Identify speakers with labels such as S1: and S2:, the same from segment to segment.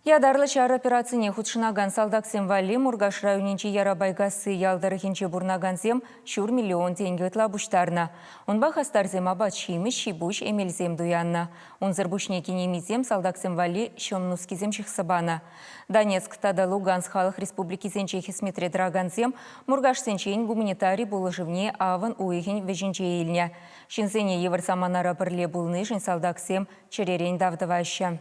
S1: Ятарлӑ ҫар операцине хутшӑнакан салтаксем валли Муркаш районӗнчи Ярабайкасси ял тӑрӑхӗнче пурӑнакансем ҫур миллион тенкӗ ытла пуҫтарнӑ. Унпа хастарсем апат-ҫимӗҫ, ҫипуҫ, эмелсем туяннӑ. Унсӑр пуҫне кинемисем салтаксем валли ҫӑм нускисем ҫыхса панӑ. Донецк тата Луганск халӑх республикисенче хӗсметре тӑракансем муркашсенчен гуманитари пулӑшӑвне авӑн уйӑхӗн вӗҫӗнче илнӗ. Ҫынсене йывӑр саманара пӗрле пулнишӗн салтаксем чӗререн тав тӑваҫҫӗ.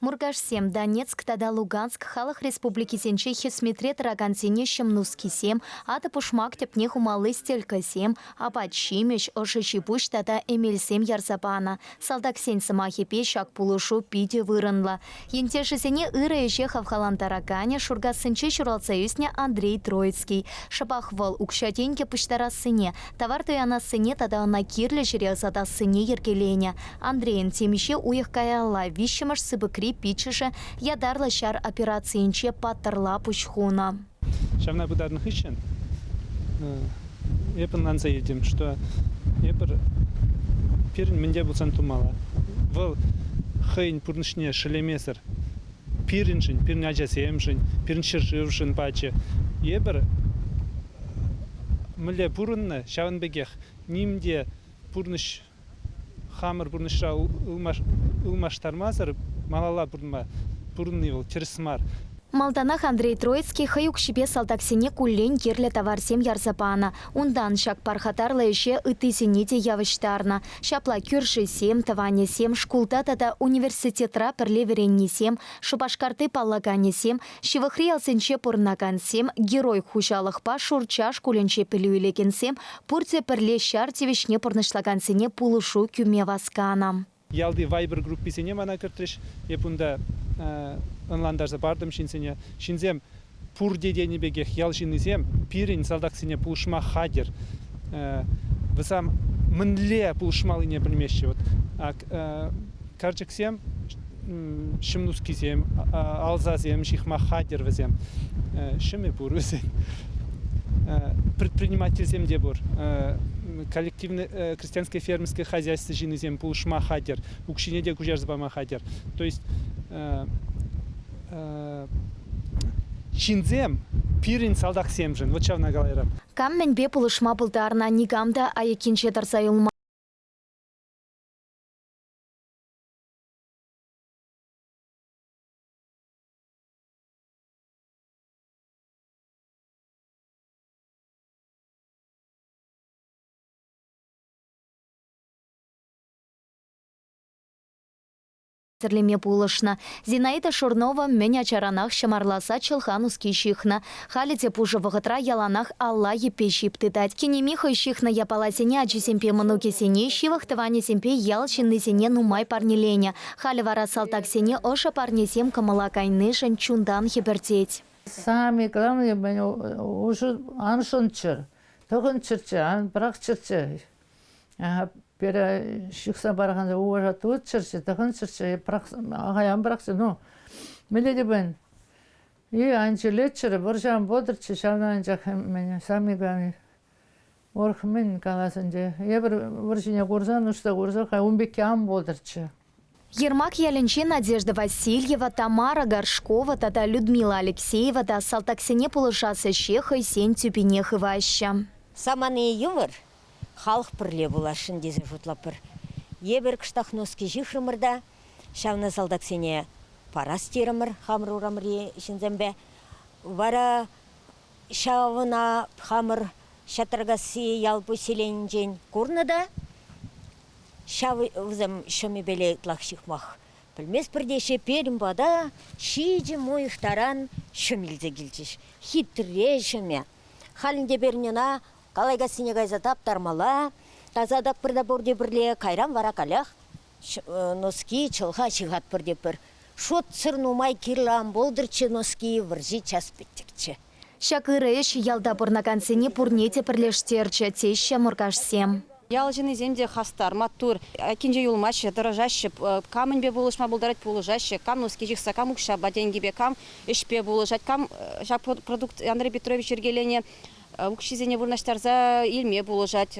S2: Муркашсем, Донецк тата Луганск халӑх республикисенчи хӗсметре тӑракансене ҫӑм нускисем, атӑ-пушмак тӗпне хумалли стелькӑсем, апат-ҫимӗҫ, ӑшӑ ҫипуҫ тата эмелсем ярса панӑ. Салтаксен сӑмахӗпе, ҫак пулӑшу питӗ вырӑнлӑ. Ентешӗсене ырӑ ӗҫе хавхалантараканӗ Шуркассинче ҫуралса ӳснӗ Андрей Троицкий. Шӑпах вӑл укҫа-тенкӗ пуҫтарассине, Тавар туянассине тата ӑна кирлӗ ҫӗре ӑсатассине йӗркеленӗ. Андрейӑн темиҫе уйӑх каялла виҫҫӗмӗш сыпӑкри пиччӗшӗ ятарлӑ ҫар операцийӗнче паттӑрла пуҫ хунӑ. Ҫавна пытарнӑ
S3: хыҫҫӑн эп ӑнланса илтӗм, что эпир пирӗн мӗн те пулсан тумалла. Вӑл хӑйӗн пурнӑҫне шеллемесӗр пирӗншӗн, пирӗн ачасемшӗн, пирӗн ҫӗршывшӑн пачӗ. Эпир мӗнле пурӑннӑ, ҫавӑн пекех ним те пурнӑҫ хамӑр пурнӑҫра ылмаштармасӑр малалла пурӑнма пурӑнни вӑл тӗрӗс мар. Малтанах
S2: Андрей Троицкий хӑй укҫипе салтаксене куллен кирлӗ таварсем ярса панӑ. Унтан ҫак пархатарлӑ ӗҫе ыттисене те явӑҫтарнӑ. Ҫапла кӳршисем, тӑванӗсем, шкулта тата университетра пӗрле вӗреннисем, Шупашкарти паллаканӗсем, Ҫывӑхри ялсенче пурӑнакансем, Герой хуҫалӑхпа Шурча шкулӗнче пӗлӳ илекенсем пурте пӗрле ҫар тивӗҫне пурнӑҫлакансене пулӑшу кӳме васканӑ. Ялти Viber
S3: групписене мана кӗртрӗҫ. Эп унта ӑнлантарса партӑм ҫынсене. Ҫынсем пурте тенӗ пекех ял ҫыннисем пирӗн салтаксене пулӑшма хатӗр. Вӗсем мӗнле пулӑшмаллине пӗлмеҫҫӗ. Ак Карчӑксем, ҫӑмнускисем, алсасем, ҫыхма хатӗр вӗсем. Ҫӑмӗ пур вӗсен. Предпринимательсем те пур. Коллективне крестьянское фермерское хозяйство ҫыннисем пулӑшма хатӗр, укҫине те куҫарса пама хатӗр. То есть ҫынсем пирӗн салтаксемшӗн, вот ҫавна калайрӑм. Кам мӗнпе пулӑшма
S2: пултарнӑ никам та айӑккинче тӑрса юлман. тӗрлеме пулӑшнӑ. Зинаида Шурнова мӗн ачаранах ҫӑмарла сад ҫӑлха нуски ҫыхнӑ. Халӗ те пушӑ вӑхӑтра яланах алла йӗппе ҫип тытать. Кинеми хӑй ҫыхнӑ япаласене ачисемпе мӑнукӗсене, ҫывӑх тӑванӗсемпе ял ҫыннисене нумай парнеленӗ. Халӗ вара салтаксене ӑшӑ парнесем кӑмӑла кайнишӗн чунтан хӗпӗртет. Самый
S4: главный мӗн уҫӑ Ансӑнччӑр, тӑхӑнччӑрччӗ, ан пӑрахчӑрччӗ. Пире ҫыхса паракансем уважа тытчӑрччӗ, тӑхӑнччӑрччӗ, ахай ан пӑрахчӑр. Ну, мӗнле те пулин И ан чӗлеччӗр, вӑрҫан пӑтӑрччӗ ҫавна анчах мӗн, Самиган урӑх мӗн калас ӗнтӗ. Эпир вӑрҫине курсан, ӑҫта курсан ун пекки ан пултӑрччӗ. Ермак
S2: ялӗнче Надежда Васильева, Тамара Горшкова тата Людмила Алексеева та салтаксене пулӑшас ӗҫе хӑйсен тӳпине хываҫҫӗ. Самани йывӑр,
S5: халӑх пӗрле пуласшӑн тесе шутлатпӑр. Е пӗр кӑштах носки ҫыхрӑмӑр та ҫавна салтаксене парас терӗмӗр хамӑр урамри ҫынсемпе. Вара ҫавна хамӑр Ҫатракасси ял поселенинчен курнӑ та ҫав вӗсем ҫӑмӗпеле ытлах ҫыхмах пӗлместпӗр теҫҫӗ. Пирӗн пата ҫичӗм уйӑх таран ҫӑм илсе килчӗҫ. Хитре ҫӑмӗ. Халь ӗнтӗ пирӗн ӑна Калайкассине кайса таптармалла. Тасатӑк пырта пурте пӗрле, кайран вара каллех носки, чӑлха ҫыхатпӑр тетпӗр. Шутсӑр нумай кирлӗ ан пултӑрччӗ носки, вӑрҫи час пӗттӗкчӗ. Ҫак ырӑ
S2: ӗҫ ялта пурӑнакансене пурне те пӗрлештерчӗ, теҫҫӗ муркашсем. Ял
S6: ҫыннисем те хастар, маттур. Айккинче юлмаҫҫӗ, тӑрӑшаҫҫӗ. Кам мӗнпе пулӑшма пултарать, пулӑшаҫҫӗ. Кам нуски ҫыхса, кам укҫапа, тенкӗпе, кам ӗҫпе пулӑшать, кам ҫак продукт Андрей Петрович йӗркеленӗ укҫисене вырнаҫтарса илме пулӑшать.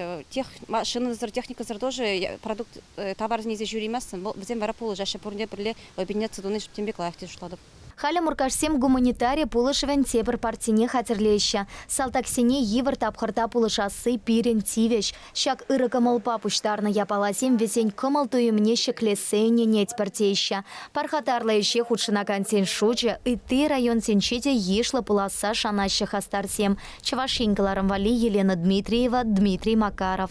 S6: машинӑсӑр, техникӑсӑр тоже продукт тавар илсе ҫӳреместӗн. Вӗсем вара пулӑшаҫҫӗ пурне пӗрле объединяться туни тем пеках тесе шутлатӑп. Халӗ муркашсем
S2: гуманитари пулӑшӑвӗн тепӗр партине хатӗрлеҫҫӗ. Салтаксене йывӑр тапхӑрта пулӑшасси пирӗн тивӗҫ. Ҫак ырӑ кӑмӑлпа пуҫтарнӑ япаласем вӗсен кӑмӑл-туйӑмне ҫӗклессе ӗненетпӗр теҫҫӗ. Пархатарлӑ ӗҫе хутшӑнакансен шучӗ ытти районсенче те йышлӑ пуласса шанаҫҫӗ хастарсем, Чӑваш Ен кӑларӑм валли Елена Дмитриева, Дмитрий Макаров.